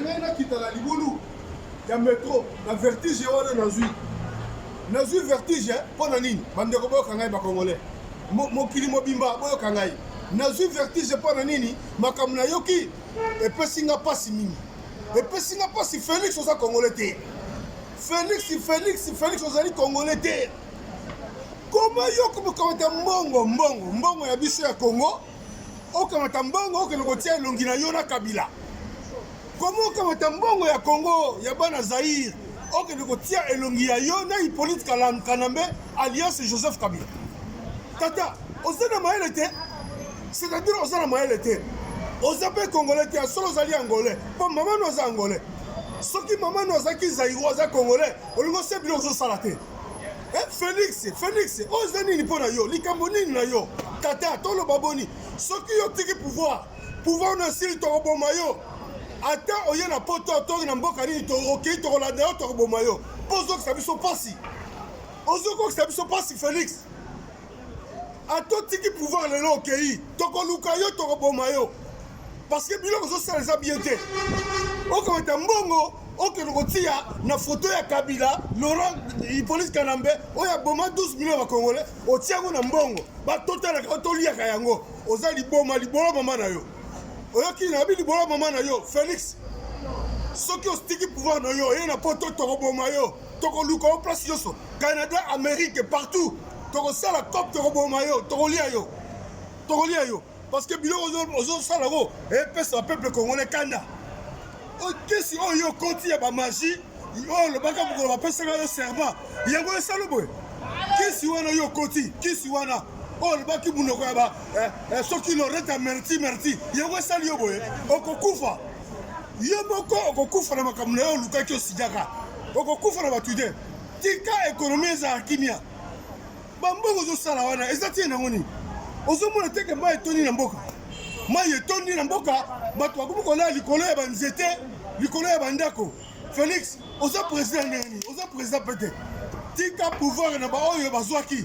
ngai nakita na libulu ya metro na vertige wana nazwi nazwi vertige mpo na nini bandeko boyoka ngai bakongole mokili mobimba boyoka ngai nazwi vertige mpo na nini makambo nayoki epesi nga mpasi mingi epesi nga mpasi felix oza kongole te felix felix felix ozali kongole te koma yo kokamata mbongo mbongo mbongo ya biso ya kongo okamata mbongo okende kotia elongi na yo na kabila koma okamata mbongo ya kongo ya bana zaire okende kotia elongi ya yo na hippolyte kanambe alliance joseph kabila tata oza na mayele te c'est-à-dire oza na mayele te oza mpe congolais te ya solo ozali angolais mpo mama no aza angolais soki mama no azalaki zairo aza congolais olingi osebili ozosala te Eh, Felix, Felix, oza nini mpo na yo? Likambo nini na yo? Tata, toloba boni? Soki yo tiki pouvoir, pouvoir na sili tokoboma yo. Ata oye na poto to na mboka nini okei tokolanda yo tokoboma yo. Mpo ozokisa biso mpasi. Ozokokisa biso mpasi Felix. ato tiki pouvoir lelo okei tokoluka yo tokoboma yo parce que biloko ozosala eza bien te okomata mbongo okende kotia na foto ya kabila laurent hippolyte kanambe oyo aboma 12 million ya congolais otia yango na mbongo batotalaka toliaka yango oza liboma libolo mama na yo oyoki nabi libolo mama na yo félix soki ostiki pouvoir na yo oye na poto tokoboma yo tokoluka yo place nyonso canada amérique partout tokosala cop tokoboma yo tokolia yo tokolia yo parce que biloko ozosala yango epesa peuple congolais kanda okesi oyo yo okoti ya bamagie oyo olobaka mokolo bapesaka yo serment yango esalo boye kisi wana yo okoti kisi wana oyo olobaki monoko ya ba eh, eh, soki loreta merti merti yango esali yo boye okokufa yo moko okokufa na makambo na yo olukaki osijaka okokufa na bato te tika ekonomi ezala kimia bambongo ozosala wana eza tie nango nini ozomona teke mai etondi na mboka mai etondi na mboka bato bakomi kolala likolo ya banzete likolo ya bandako felix oza président ndenge nini oza président mpe te tika pouvoir na baoyo bazwaki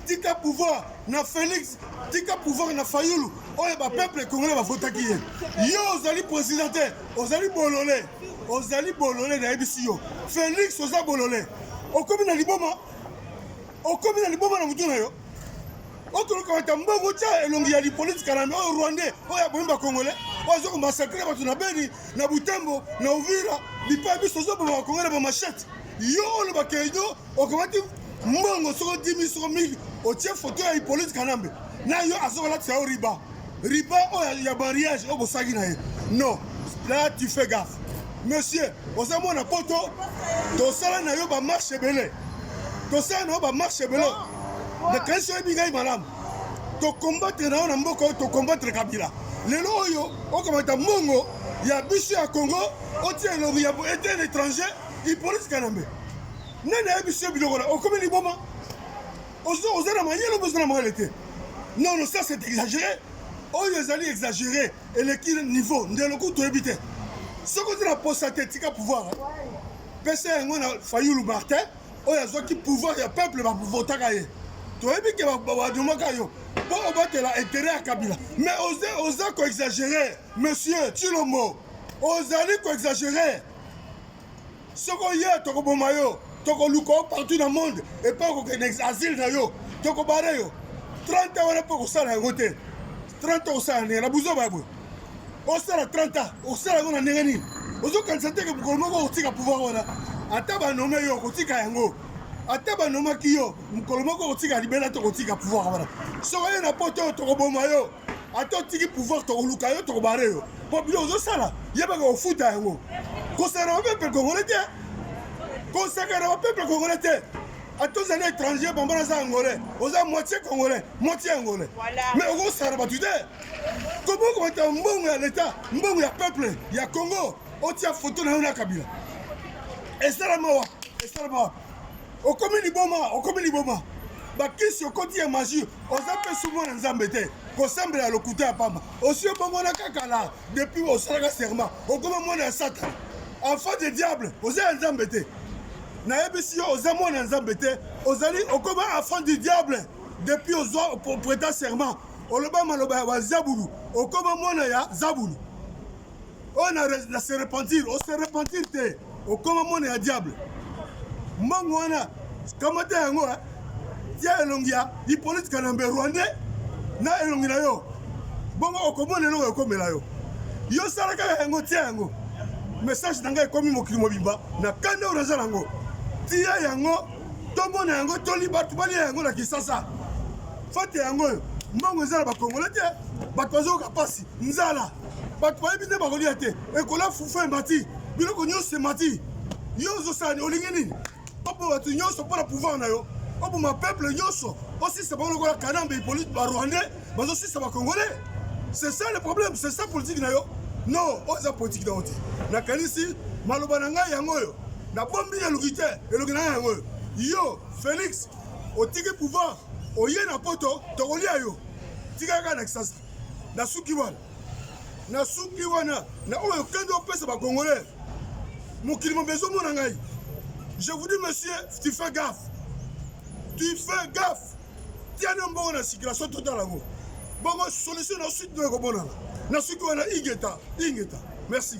tika pouvoir na Felix tika pouvoir na Fayulu oyo ba peuple congolais bavotaki ye yo ozali président te ozali bolole ozali bolole nayebisi yo Felix oza bolole okomi na liboma okomi na liboma na motu na yo okoluka bata mbongo otya elongi ya lipoliti kanambe oyo rwandais oyo abomi bacongolais oyo aza komasakre bato na beni na butembo na uvira bipai biso ozoboma bakongolais bamashete yo olobaka edo okamati mbongo soko 10 soko 1000 otie foto ya ipolite kanambe na yo azokolatisa yo riba riba oyo oh, ya mariage oyo oh, bosaki na ye non là tu fais gaffe monsieur oza mwana poto tosala na yo bamarche ebele tosala na yo bamarche ebele nakanisi oyebi ngai malamu tokombatre na yo na mboka oyo tokombatre kabila lelo oyo okamata mbongo ya biso ya congo otia elobi ya ete na étranger Hippolyte Kanambe nani ayebisi yo biloko na okomi liboma oza na mayele obe oza na mayele te non non ça c'est exagéré oyo oh, ezali exagéré eleki niveau ndelo kutu oyebi te soki oza na posa te tika pouvoir pesa yango na fayulu martin oyo azwaki pouvoir ya peuple bavotaka ye toyebi ke badomaka yo mpo obatela intérêt ya kabila mais oza koexagéré monsieur tshilombo ozali koexagéré soki oye tokoboma yo tokoluka yo partout na monde epai okokende asile na yo tokobare yo 30 wana mpe okosala yango te 30 okosala ndenge na buzoba ya boye osala 30 ans okosala yango na ndenge nini ozokanisa teke mokolo moko okotika pouvoir wana ata banome yo okotika yango ata banomaki yo mokolo moko okotika libela tokotika pouvoir wana soki oye na poto tokoboma yo ata otiki pouvoir tokoluka yo tokobare yo mpo bino ozosala yebaka kofuta yango kosakana ba peuple congolais te kosakana ba peuple congolais te ata ozali étranger bambo naza angolais oza moitié congolais moitié angolais mais okosakana bato te kobokomata mbongo ya leta mbongo ya peuple ya congo otia foto na yo na kabila esalama wa esalama wa okomi liboma okomi liboma bakisi okoti ya magie oza mpe sumo na nzambe te kosambela lokuta ya pamba osi obongwana kaka la depuis osalaka serment okoma mwana ya satana enfant de diable oza ya nzambe te nayebisi yo oza mwana ya nzambe te ozali okoma enfant du diable depuis ozwa preta serment oloba maloba ya bazabulu okoma mwana ya zabulu oyo na, na se repentir o se repentir te okoma mwana ya diable mbongo wana kamata yango eh. tia elongi ya hippolyte kanambe rwandais na elongi na yo bongo okomona eloko ekomela yo yo sala kaka yango tia yango message na ngai ekomi mokili mobimba na kanda oyo naza nango tia yango tomona yango toli bato balia yango na kisasa fate yango oyo mbongo eza na bakongole te bato bazoyoka mpasi nzala bato bayebi nde bakolia te ekola fufu emati biloko nyonso emati yo ozosani olingi nini opo bato nyonso mpo na pouvoir na yo oboma peuple nyonso osisa bango lokola kanambe hippolite barwandais bazosisa bacongolais c'est ça le problème c'est ça politique na yo non oyo eza politique na yo te nakanisi maloba na ngai yango oyo nabombi na eloki te eloki na ngai yango oyo yo félix otiki pouvoir oye na poto tokolia yo tika kaka na kisasa nasuki wana nasuki wana na oyo kende opesa bacongolais mokili mobimba ezomona ngai je vous dis monsieur tu fais gaffe tu fais gaffe tiana mbongo na circulation totala yango bongo solution na sud no ekomonana nasuki wana ingeta ingeta merci